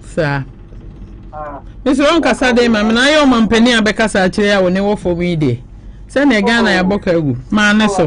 Saa. Mesrɛ wo nkasa den ma me na ayɛ ɔmampanin a bɛkasa akyerɛ yi a wɔne wɔ fam yi deɛ. Sɛdeɛ Ghana yɛabɔ ka agu. Maa ne so.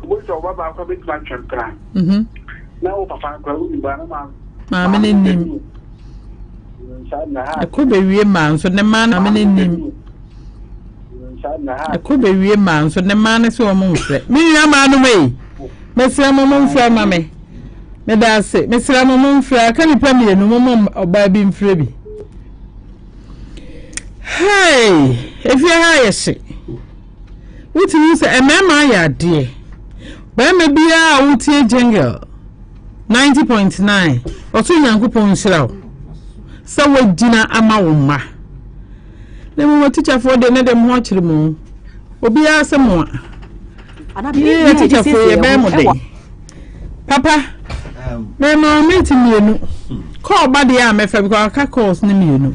Wobɛhu sɛ wo ba baako bɛtumi atwe mpena. Na wo papa no koraa wonim baa na maa. Maame no nim. Ɛkɔ bɛwie maa nso ne maa no maame no nim. Ɛkɔ bɛwie maa nso ne maa no sɛ wɔn mfrɛ. Me nua maa no mɛ yi. Mɛsrɛ mo mo mfrɛ ma me. Meda ase. Mesrɛ mo mo mfrɛ aka nipa mmienu mo mo ɔbaa bi mfrɛ bi. Hey! Efie ha yɛ hye. Wotumi hu sɛ mmarima ayɛ adeɛ. Barima biara a wotie Jengel 90.9 ɔsoro Nyankopɔn nhyira wo sɛ woagyina ama wo mma. Na mmom atikyafoɔ deɛ ne de mo ho akyere mo. Obiara sɛ mo a. Yei atikyafoɔ yɛbɛn mo den. Papa, mɛma wo minti mmienu. Kɔɔ ba deɛ a mɛfa bi kɔ aka calls ne mmienu.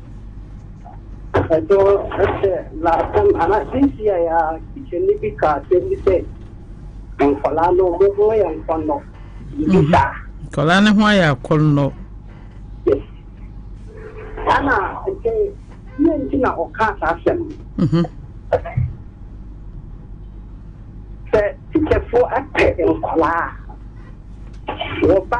Ɛtɔ ɛsɛ last time ana this year ya teacher ni bi ka asɛm bi sɛ nkwadaa no wɔn ho yɛ nkɔnnɔ bi mhm. saa. Nkwadaa no ho ayɛ akɔnnɔ. Yes. Ana nti yɛ nti na ɔka saa asɛm. Mhm. Sɛ teacherfoɔ apɛ nkwadaa a wɔba.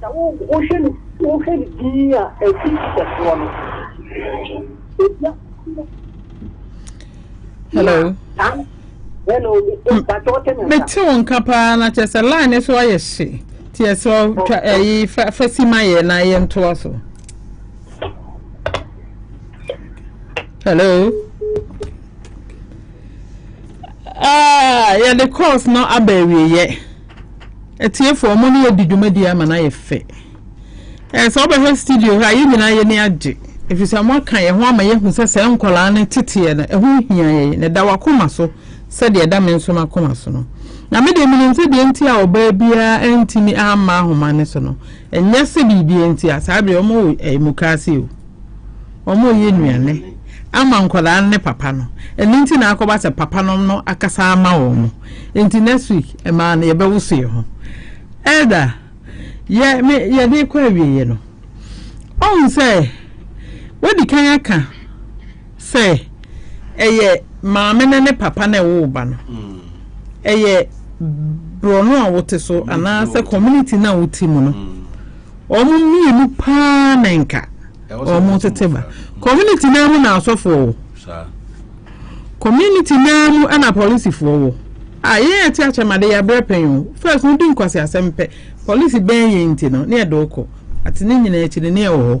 Sɛ wohwɛ no wohwɛ no dinn a, ɛfi kɛseɛ no. Ɛfia kɛseɛ. Hello. Hello. Mete wo nka paa na kyerɛ sɛ line no so ayɛ hye. Nti ɛsrɛ twa ɛyi fa fa si ma yɛ na yɛ ntoa so. Hello. Ah, yɛde course no aba awieɛ. Atiefo, wɔn ne yɛadi dwumadi ama no ayɛ fɛ. Ɛɛ, sɛ wobɛhwɛ studio hɔ a, yɛn nyinaa yɛn ani agye, efisɛ wɔaka yɛn ho ama yɛahu sɛ saa nkwadaa no teteɛ no, ɛho hia yɛn, na ɛda w'akoma so sɛdeɛ ɛda me nso m'akoma so no. Na me deɛ, menim sɛ deɛ enti a ɔbaa biara antumi amma ahoma no so no, ɛnyɛ sɛ biribi nti a, saa berɛ wɔwɔ ɛɛ mukaase o, wɔreyɛ nnuane ama nkwadaa no ne papa no, ɛno nti na akɔba sɛ papanom no akasa ama wɔn. Nti next week ɛmaa no yɛbɛwoso yɛn ho. Elder, yɛ me yɛde kɔ awieɛ no, ɔhu sɛ wadi kan aka sɛ ɛyɛ maame no ne papa na ɛwoo ba no. Mm. Ɛyɛ borɔno a wote so anaasɛ community no a wote mu no. Mm. Wɔn mmienu paa na nka wɔn tete ba. Community no mu na asɔfoɔ wɔ. saa. Community naa mu na polisifoɔ wɔ a yɛn yɛte akyɛm ade yɛabrɛ pɛn o first no di nkwaseasɛm pɛ polisi bɛn yɛn nti no ne yɛde wo kɔ ate ne nyinaa akyi no ne yɛwɔ hɔ.